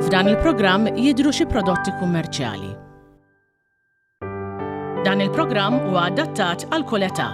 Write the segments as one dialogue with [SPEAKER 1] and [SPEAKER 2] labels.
[SPEAKER 1] F'dan il-programm jidhru xi prodotti kummerċjali. Dan il-programm huwa adattat għal kull età.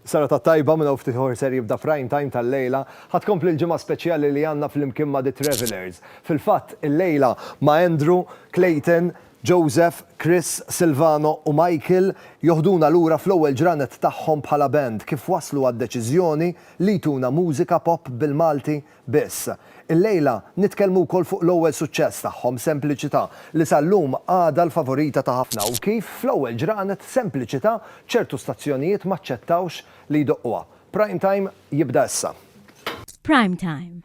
[SPEAKER 2] Sara ta' tajba minn ftit ħor ser jibda prime time tal-lejla, ħad kompli l-ġimgħa speċjali li għandna fl-imkien ma' The Travelers. Fil-fatt, il-lejla ma' Andrew, Clayton, Joseph, Chris, Silvano u Michael joħduna lura fl-ewwel ġranet tagħhom bħala band kif waslu għad-deċiżjoni li jtuna mużika pop bil-Malti biss. Illejla nitkellmu wkoll fuq l-ewwel suċċess tagħhom, Sempliċità, li sal-lum għadha l-favorita ta' ħafna u kif fl-ewwel ġranet Sempliċità ċertu stazzjonijiet m'aċċettawx li jdoqquha. Prime Time jibda issa. Prime
[SPEAKER 3] Time,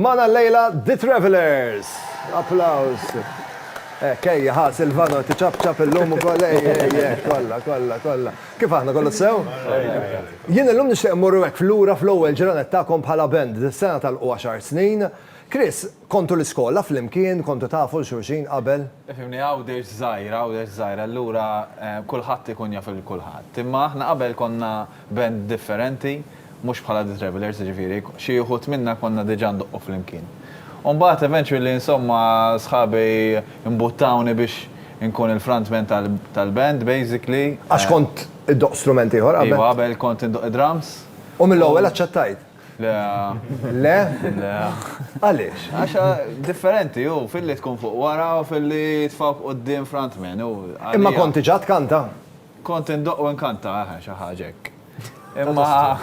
[SPEAKER 2] Magħna llejla The Travellers! Applaws! Hekk, ejja, ħa, Silvano, tiċapċap illum ukoll, ejja, ejja, hekk, kollha, kollha, kollha. Kif aħna, kollox sew? Jien illum nixtieq immur hekk lura fl-ewwel ġranet tagħkom bħala band, dis-sena tagħlqu għaxar snin. Chris, kontu l-iskola flimkien, kontu tafu 'l xulxin qabel? Ifhimni, Għawdex
[SPEAKER 4] żgħira, Għawdex żgħira, allura kulħadd ikun jaf 'il kulħadd. Imma aħna qabel konna Band differenti, mhux bħala The Travellers, jiġifieri, xi wħud minna konna diġà ndoqqu flimkien. U mbagħad eventually insomma sħabi imbuttawni biex inkun il-frontman tal-band basically. Għax kont
[SPEAKER 2] iddoqq strument ieħor qabel? Iva, qabel kont indoqq
[SPEAKER 4] id-drums. U mill-ewwel
[SPEAKER 2] aċċettajt? Le.
[SPEAKER 4] Le?
[SPEAKER 2] Le. Għaliex? Għax
[SPEAKER 4] differenti hu filli tkun fuq wara u filli jitfgħuk quddiem frontman. Imma kont diġà
[SPEAKER 2] tkanta? Kont indoqq
[SPEAKER 4] u nkanta, eħe, xi ħaġa hekk. Imma.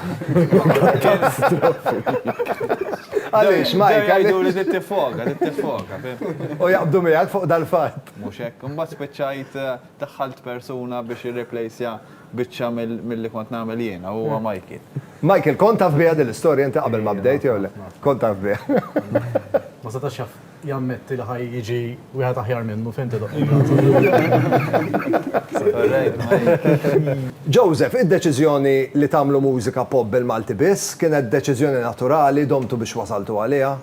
[SPEAKER 2] Għaliex, Mike, għajdu li tittifoka,
[SPEAKER 4] tittifoka.
[SPEAKER 2] U jaqbdu miegħek fuq dal-fatt. Mhux hekk, imbagħad
[SPEAKER 4] spiċċajt eh, daħħalt persuna biex irreplacja biċċa mill-li kont nagħmel jiena huwa Mikey. Michael, kont taf
[SPEAKER 2] biha din l-istorja inti qabel ma bdejt jew le? Kont taf biha. Ma
[SPEAKER 5] setax jaf. jammetti li ħaj jiġi wieħed aħjar minnu fejn tidhom.
[SPEAKER 2] Joseph, id-deċiżjoni li tagħmlu mużika pop bil-Malti biss kienet deċiżjoni naturali domtu biex wasaltu għaliha?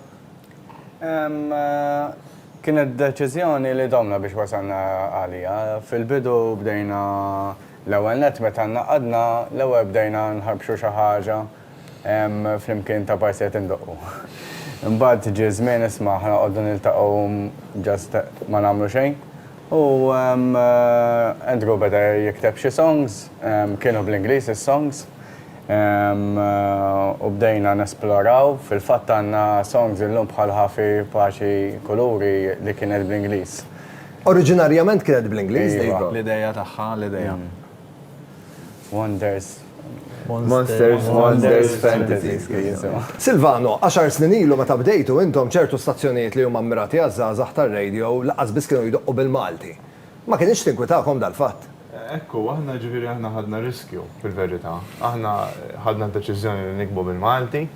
[SPEAKER 6] Kienet deċiżjoni li domna biex wasalna għaliha. Fil-bidu bdejna l-ewwel nett meta ngħaqadna l-ewwel bdejna nħarbxu xi ħaġa Hemm flimkien ta' partijiet indoqqu. Imbagħad ġie żmien isma' ħa noqogħdu niltaqgħu just ma nagħmlu xejn. U Andrew beda jikteb xi songs, kienu bl-Ingliż is-songs, u bdejna nesploraw. Fil-fatt għandna songs illum bħal Ħafi, Paċi, Kuluri li kienet bl-Ingliż. Oriġinarjament
[SPEAKER 2] kienet bl-Ingliż? Iva. L-idea tagħha,
[SPEAKER 4] l-idea. Wonders.
[SPEAKER 6] Monsters, Wonders, Fantasies. Silvano,
[SPEAKER 2] għaxar snin ilu meta bdejtu intom ċertu stazzjonijiet li huma mmirati għaż-żgħażagħ tar-radio lanqas biss kienu jdoqqu bil-Malti. Ma kinitx tinkwitakom dal-fatt? Hekk hu, aħna
[SPEAKER 7] jiġifieri aħna ħadna riskju fil-verità. Aħna ħadna d-deċiżjoni li niktbu bil-Malti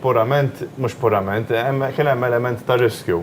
[SPEAKER 7] purament, mhux purament, kien hemm element ta' riskju.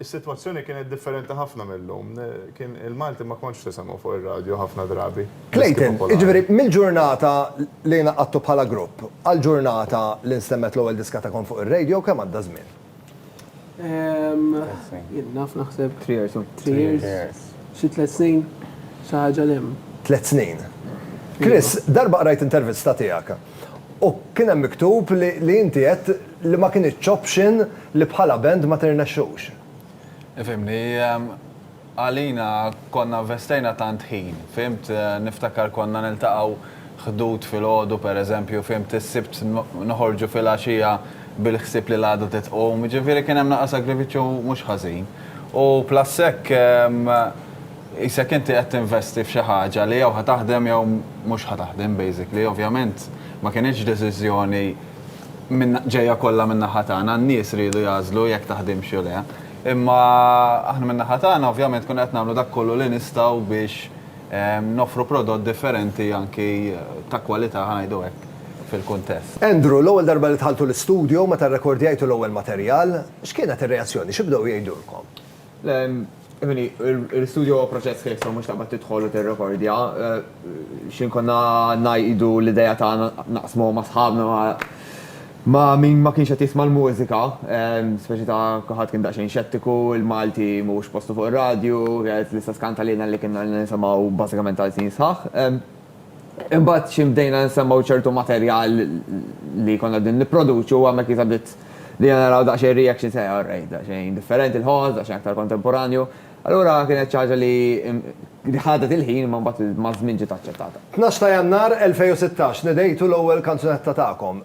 [SPEAKER 7] Is-sitwazzjoni kienet differenti ħafna mill-lum. Kien il-Malti ma kontx tisemgħu fuq ir-radju ħafna drabi. Clayton, jiġifieri
[SPEAKER 2] mill-ġurnata li ingħaqadtu bħala grupp għall-ġurnata li nstemgħet l-ewwel diska tagħkom fuq ir-radio kemm għadda żmien? Ilna
[SPEAKER 8] naf naħseb. Three years. Three years. Xi tliet snin, xi ħaġa l-hemm. Tliet snin.
[SPEAKER 2] Chris, darba qrajt intervista tiegħek u kien hemm miktub li inti għedt li ma kinitx option li bħala band ma tirnexxux. Ifhimni,
[SPEAKER 4] għalina konna investejna tant ħin, fhimt, niftakar konna niltaqgħu ħdud filgħodu pereżempju, fhimt, is-Sibt noħorġu filgħaxija bil-ħsieb li l-għada trid tqum, jiġifieri kien hemm naqra sagrifiċċju mhux ħażin. U plus hekk qisek inti qed tinvesti f'xi ħaġa li jew ħa taħdem jew mhux ħa taħdem basically, ovvjament ma kinitx deċiżjoni, minn ġejja kollha min-naħa tagħna, n-nies riedu jagħżlu jekk taħdimx jew le. Imma aħna min-naħa tagħna ovvjament konna qed nagħmlu dak kollu li nistgħu biex noffru prodott differenti anki ta' kwalità ħa ngħidu hekk fil-kuntest. Andrew, L-ewwel darba
[SPEAKER 2] li dħaltu l-istudjo, meta rrekordjajtu l-ewwel materjal, x'kienet ir-reazzjoni, xi bdew jgħidulkom? Emily,
[SPEAKER 9] il-studio huwa proċess kif so mhux taqbad tidħol u tirrekordja. X'in konna ngħidu l-idea tagħna naqsmu ma' sħabna ma' min ma kienx qed jisma' l-mużika, speċi ta' kulħadd kien daqsxejn xettiku, il-Malti mhuwiex postu fuq ir-radju, l-istess kant għalina li kienna ilna nisimgħu bażikament għal snin sħaħ. Imbagħad xi bdejna nsemmgħu ċertu materjal li jkollna qegħdin nipproduċu u hemmhekk jista' bdiet bdejna naraw daqsxejn reactions ta' all right, daqsxejn differenti l-ħoss, daqsxejn aktar kontemporanju. Allura kienet xi ħaġa li li ħadet il-ħin imma mbagħad maż-żmien ġiet aċċettata. Tnax ta' Jannar 2016, Nedejtu l-ewwel kanzunetta tagħkom.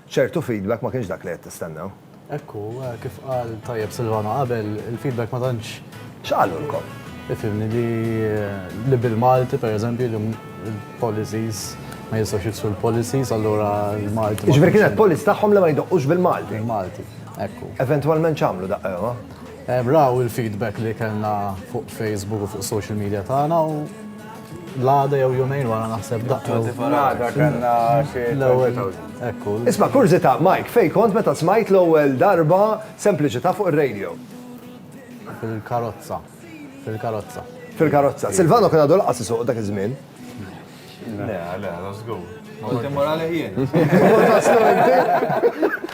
[SPEAKER 2] Ċertu feedback ma kienx dak li qed tistennew. Hekk hu,
[SPEAKER 5] kif qal tajjeb Silvano qabel, il-feedback ma tantx. X'qalulkom?
[SPEAKER 2] Ifhimni li
[SPEAKER 5] li bil-Malti pereżempju li l-policies ma jistgħux jiksru l-policies allura l-Malti. Jiġifieri kienet policy
[SPEAKER 2] tagħhom li ma jdoqqux bil-Malti. Bil-Malti, hekk
[SPEAKER 5] hu. Eventwalment x'għamlu
[SPEAKER 2] daqqewha? Raw
[SPEAKER 5] il-feedback li kellna fuq Facebook u fuq social media tagħna u. L-għada jew jumejn wara naħseb daqqa. L-għada kanna
[SPEAKER 6] l-ewwel. Ekku.
[SPEAKER 5] Isma' kurzita,
[SPEAKER 2] Mike, fej kont meta smajt l-ewwel darba sempliċità fuq ir-radio? Fil-karozza.
[SPEAKER 5] Fil-karozza. Fil-karozza.
[SPEAKER 2] Silvano kien għadu laqas isuq dak iż-żmien.
[SPEAKER 7] Le, le, żgur.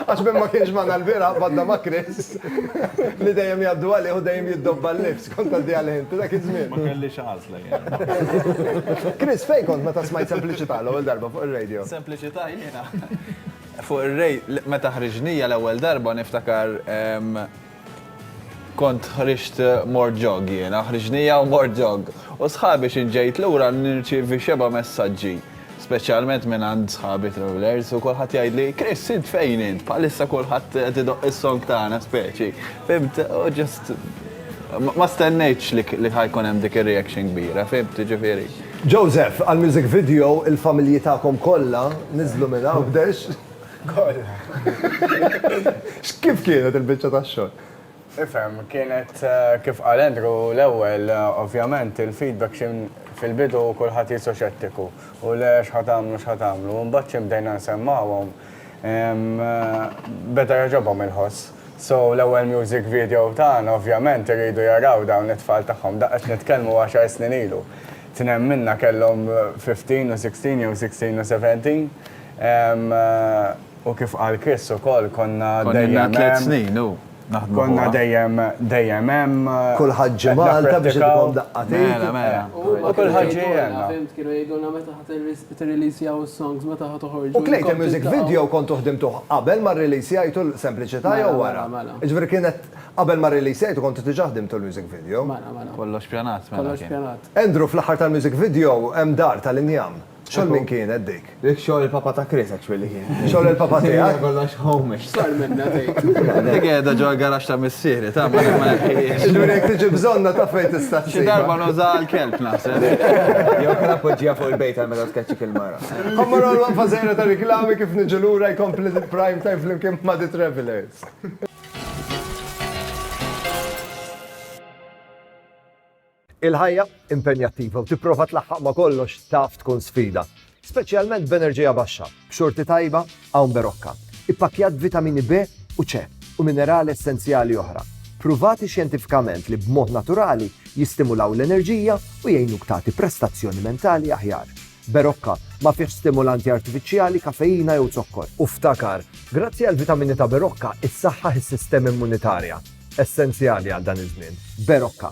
[SPEAKER 2] Għax minn ma kienx magħna l-bira badda ma' Chris li dejjem jgħaddu għalih u dejjem jiddobba l-lifs kont għaddi għalih inti dak iż-żmien. Ma kellix għażla
[SPEAKER 7] jien.
[SPEAKER 2] Chris, fejn kont meta smajt Sempliċità l-ewwel darba fuq ir-radio? Sempliċità jiena.
[SPEAKER 4] Fuq ir-radio meta ħriġnija l-ewwel darba niftakar Kont ħriġt mort jogg jiena, ħriġnija u mort jogg. U sħabi x'int ġejt lura nirċievi xebgħa messaġġi, speċjalment mingħand sħabi travellers u kulħadd jgħidli, Chris, int fejn int? Bħalissa kulħadd qed idoqq is-song tagħna speċi. Fimt? U ġust ma stennejtx li ħa jkun hemm dik ir-reaction kbira, fimt, jiġifieri. Joseph,
[SPEAKER 2] għall-music video il-familji tagħkom kollha niżlu minn hawn b'dex. X'kif kienet il-biċċa tax-xogħol? Ifhem,
[SPEAKER 6] kienet kif qal Andrew l-ewwel, ovvjament il-feedback xi fil-bidu kulħadd qisu xettiku u le x'ħa tagħmlu x'ħa tagħmlu. Imbagħad xi bdejna nsemmgħuhom beda jogħġobhom il-ħoss. So l-ewwel music video tagħna ovvjament iridu jaraw dawn it-tfal tagħhom, daqs qed nitkellmu għaxar snin ilu. Tnejn minna kellhom 15 u 16 jew 16 u 17. U kif qal Chris ukoll konna dejjem tliet snin u naħdmu.
[SPEAKER 4] Konna dejjem
[SPEAKER 6] dejjem hemm. Kulħadd ġi
[SPEAKER 2] Malta biex ikun daqqatin. Mela, mela. U
[SPEAKER 4] kulħadd ġi għandna.
[SPEAKER 6] Kienu jgħidulna meta
[SPEAKER 8] ħadd tirreleasjaw is-songs, meta ħadd toħorġu. U Clayton Music Video
[SPEAKER 2] kontu ħdimtuh qabel ma rreleasjajtu l-Sempliċità jew wara? Jiġifieri kienet qabel ma rreleasjajtu kontu diġà ħdimtu l-music video? Mela, mela. Kollox pjanat,
[SPEAKER 4] mela. Kollox pjanat. Andrew,
[SPEAKER 8] fl-aħħar tal-music
[SPEAKER 2] video hemm dar tal-injam. Xogħol min kienet dik? Dik xogħol il-papa ta'
[SPEAKER 9] Chris actually kien. Xogħol il-papa tiegħek?
[SPEAKER 2] Kollox homish.
[SPEAKER 9] Sar
[SPEAKER 8] minna tgħid. Dik qiegħda ġo
[SPEAKER 4] l-garax ta' missieri, ta' ma nħejjiex. Jiġifieri jekk tiġi
[SPEAKER 2] bżonna ta' fejn tista' ssibha. Xi darba nużaha
[SPEAKER 4] għall-kelb naħseb. Jew kien
[SPEAKER 9] appoġġiha fuq il-bejt għal meta tkeċċi fil-mara. Ħa mmorru għal waqfa
[SPEAKER 2] żgħira ta' riklami kif niġu lura jkompli l-prime time flimkien ma' The Travellers. Il-ħajja impenjattiva u tipprova tlaħħaq ma' kollox taf tkun sfida, speċjalment b'enerġija baxxa, b'xorti tajba hawn Berocca, ippakkjat b'vitamini B u C u minerali essenzjali oħra, pruvati xjentifikament li b'mod naturali jistimulaw l-enerġija u jgħinuk tagħti prestazzjoni mentali aħjar. Berocca ma fihx stimulanti artifiċjali, kafeina jew zokkor. U ftakar, grazzi għall-vitamini ta' Berocca, issaħħaħ is-sistema immunitarja, essenzjali għal dan iż-żmien. Berocca.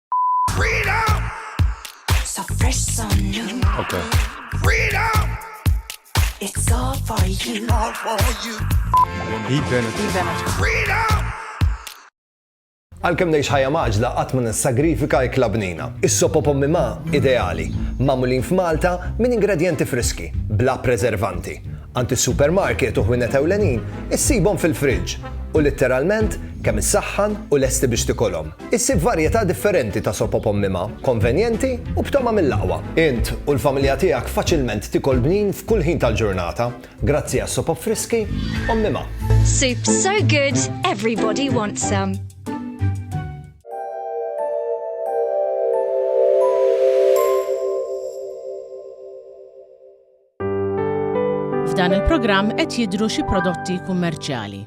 [SPEAKER 2] Għalkemm ngħix ħajja maġla qatt ma nissagrifika ikla bnina. Is-sopo pommi ma ideali, magħmulin f'Malta minn ingredjenti friski, bla preservanti. Għand is-supermarket u ħwienet ewlenin issibhom fil-friġġ u litteralment kemm issaħħan u lesti biex tikolhom. Issib varjetà differenti ta' sopop ommima, konvenjenti u b'togħma mill-aqwa. Int u l-familja tiegħek faċilment tikol bnin f'kull ħin tal-ġurnata grazzi għas-sopop friski ommima. Soup so
[SPEAKER 10] good, everybody wants some.
[SPEAKER 1] F'dan il-programm qed jidhru xi prodotti kummerċjali.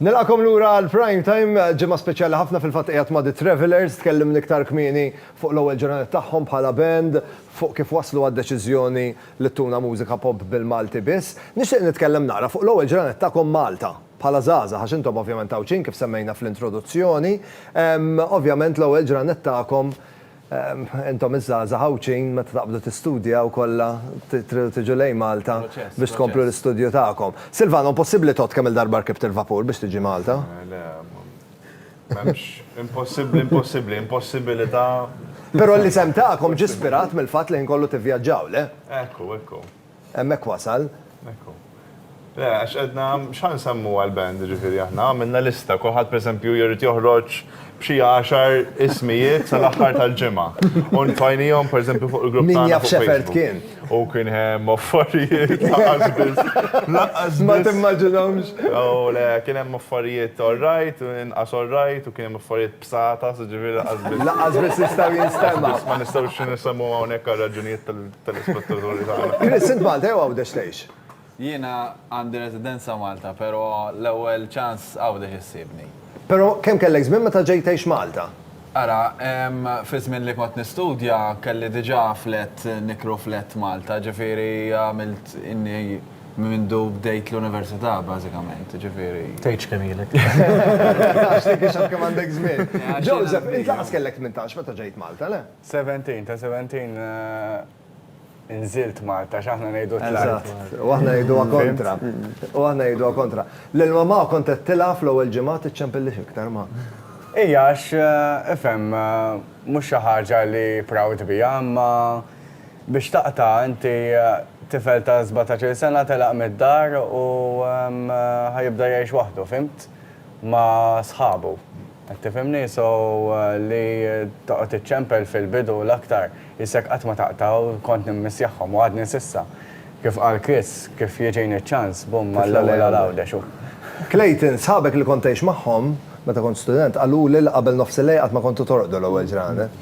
[SPEAKER 2] Nilqakom lura għal prime time, ġimgħa speċjali ħafna fil-fatt qiegħed ma' The Travelers, tkellim l-iktar kmieni fuq l-ewwel ġurnata tagħhom bħala band, fuq kif waslu għad-deċiżjoni li tuna mużika pop bil-Malti biss. Nixtieq nitkellem naqra fuq l-ewwel ġurnata tagħkom Malta. bħala żgħażagħ, għax intom ovvjament Għawdxin kif semmejna fl-introduzzjoni, ovvjament l-ewwel ġranet tagħkom, intom iż-żgħażagħ Għawdxin meta taqbdu tistudjaw kollha tridu tiġu lejn Malta biex tkomplu l-istudju tagħkom. Silvano, impossibbli tgħodd kemm-il darba rkibt il-vapur biex tiġi Malta? Le, m'hemmx
[SPEAKER 7] impossibbli, impossibbli, impossibilità. Però
[SPEAKER 2] l-isem tagħkom ġie spirat mill-fatt li l-ħin kollu tivvjaġġaw, le? Ekku, ekku.
[SPEAKER 7] Hemmhekk
[SPEAKER 2] wasal. Hekk hu.
[SPEAKER 7] Le, għax għedna x'ħa nsemmu għall-band, jiġifieri aħna għamilna lista, kulħadd pereżempju jrid joħroġ b'xi għaxar ismijiet sal-aħħar tal-ġimgħa. U nfajnihom pereżempju fuq il-grupp tagħna. Min jaf x'effert kien. U
[SPEAKER 2] kien
[SPEAKER 7] hemm affarijiet lanqas biss. Lanqas biss. Ma timmaġinhomx.
[SPEAKER 2] O le, kien
[SPEAKER 7] hemm affarijiet all right, inqas all right, u kien hemm affarijiet. bsata, ġifieri laqas biss. Laqas biss jistgħu
[SPEAKER 2] jinstema'. Ma nistgħux nisemgħu
[SPEAKER 7] hawnhekk għal raġunijiet tal-ispettaturi tagħna. Chris, int Malta jew Għawdex
[SPEAKER 2] tgħix? Jiena
[SPEAKER 4] għandi residenza Malta, però l-ewwel ċans Għawdex issibni. Però kemm kellek
[SPEAKER 2] żmien meta ġejt tgħix Malta? Ara,
[SPEAKER 4] fiż-żmien li kont nistudja kelli diġà flat, nikru flat Malta, ġifieri għamilt inni. Minn mindu bdejt l-università bażikament, jiġifieri. Tgħidx kemm ilek.
[SPEAKER 5] Għax
[SPEAKER 2] dik ix-xahar kemm għandek żmien. Joseph, int lanqas kellek tmintax meta ġejt Malta, le? Seventeen, ta' seventeen
[SPEAKER 6] inżilt Malta, x'aħna ngħidu tlajt. Eżatt. U aħna
[SPEAKER 2] ngħiduha kontra. U aħna ngħiduha kontra. Lil mamà kont għedtilha fl-ewwel ġimgħa tiċċempillix iktar ma. Hija
[SPEAKER 6] għax, ifhem, mhux xi ħaġa li proud biha imma Biex taqta', inti tifel ta' sbatax-il sena telaq mid-dar u ħa jibda jgħix waħdu, fhimt? Ma' sħabu. Qed tifhimni? So, li toqgħod iċċempel fil-bidu u l-aktar, jissek qatt ma taqta' u kont nimmissjahhom u għadni s'issa. Kif qal Chris, kif jiġini ċ-ċans, bum mal-ewwel għal Għawdex u. Clayton,
[SPEAKER 2] sħabek li kont tgħix magħhom, meta kont student, qaluli li qabel nofsillejl qatt ma kontu torqdu l-ewwel ġranet.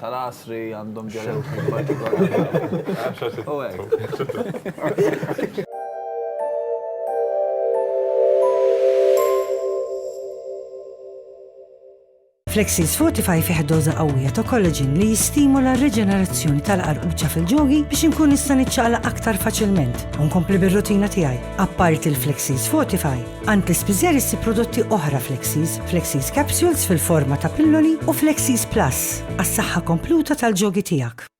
[SPEAKER 4] tal-għasri għandhom ġelotin
[SPEAKER 11] partikolari. U hekk. Flexies Fortify fih doża qawwija ta' kollaġin li jistimula r-riġenerazzjoni tal-qarquċa fil-ġogi biex inkun nista' niċċaqlaq aktar faċilment u nkompli bir-rutina tiegħi. Apparti l-Flexies Fortify, Għand l-ispiżer issib prodotti oħra Flexies, Flexies Capsules fil-forma ta' pilloli u Flexies Plus għas-saħħa kompluta tal-ġogi tiegħek.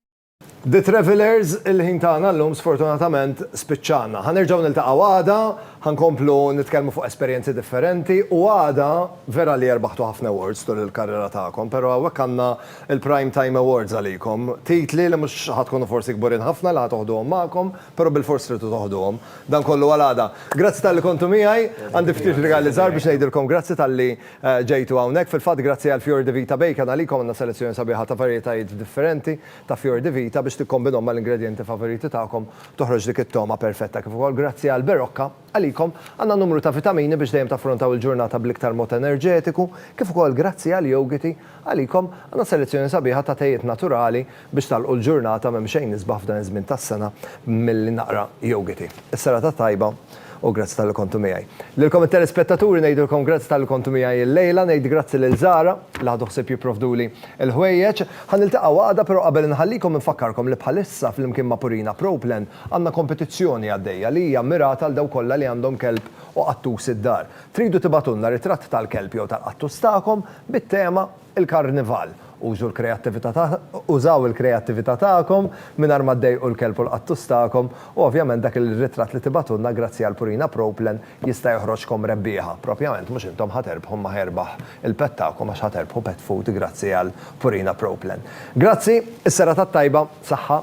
[SPEAKER 11] The
[SPEAKER 2] Travellers, il-ħin tagħna llum sfortunatament spiċċana. Ħa nerġgħu niltaqgħu għada, ħa nkomplu nitkellmu fuq esperjenzi differenti u għada vera li erbaħtu ħafna awards tul il-karriera tagħkom, però hawnhekk għandna il-Prime Time Awards għalikom. Titli li mhux ħa tkunu forsi kburin ħafna li ħa toħduhom magħkom, Però bilfors tridu toħduhom. Dan kollu għal għada. Grazzi talli kontu miegħi. Għandi ftit rigali żgħar biex ngħidilkom grazzi talli ġejtu hawnhekk. Fil-fatt grazzi għal Fior di Vita Bacon għalikom għandna selezzjoni sabiħa ta' varjetajiet differenti ta' Fior di Vita biex tikkombinhom mal-ingredjenti favoriti tagħkom toħroġ dik it-togħma perfetta. Kif ukoll grazzi għal Berocca. Għalikom, għandna numru ta' vitamini biex dejjem taffrontaw il-ġurnata bl-iktar mod enerġetiku, kif ukoll grazzi għall-yogiti, għalikom, għandna selezzjoni sabiħa ta' tejiet naturali biex tagħlqu l-ġurnata m'hemm xejn isbaħ f'dan iż-żmien tas-sena milli naqra yogiti. Is-serata tajba u grazzi talli kontu miegħi. Lilkom it-telespettaturi ngħidilkom grazzi talli kontu miegħi illejla, ngħid grazzi lil Zara li ħadu ħsieb jipprovduli l-ħwejjeġ. Ħa niltaqgħu għada, però qabel inħallikom infakkarkom li bħalissa flimkien ma' Purina Pro Plan Għandna kompetizzjoni għaddejja li hija mmirata għal dawk kollha li għandhom kelb u qattus id-dar. Tridu tibagħtulna ritratt tal-kelb jew tal-qattus tagħkom bit-tema Il-Karnival. Użu l-kreattività Użaw il-kreattività tagħkom mingħajr ma ddejqu l-kelb u l-qattus tagħkom u ovvjament dak ir-ritratt li tibagħtulna grazzi għal Purina Proplen jista' joħroġkom rebbieħa. Propjament mhux intom ħa terbħu imma ħa jerbaħ il-pet tagħkom għax ħa terbħu pet food grazzi għal Purina Proplen. Grazzi, is-serata t-tajba, saħħa.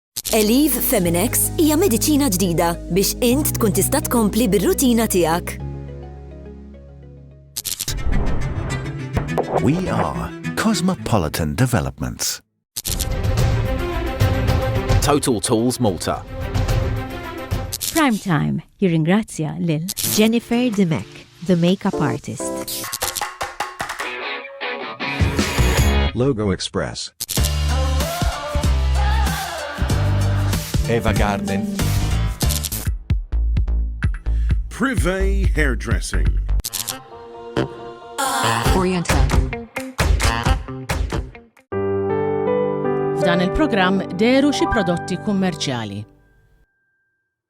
[SPEAKER 12] Eliv
[SPEAKER 13] Feminex hija mediċina ġdida biex int tkun tista' tkompli bir-rutina tiegħek.
[SPEAKER 12] We are Cosmopolitan Developments.
[SPEAKER 14] Total Tools Malta.
[SPEAKER 3] Prime Time jirringrazzja lil Jennifer Dimek.
[SPEAKER 15] The Makeup Artist.
[SPEAKER 16] Logo Express. Eva Garden.
[SPEAKER 17] Privé Hairdressing.
[SPEAKER 18] Oriental.
[SPEAKER 1] F'dan il-programm deru xi prodotti kummerċjali.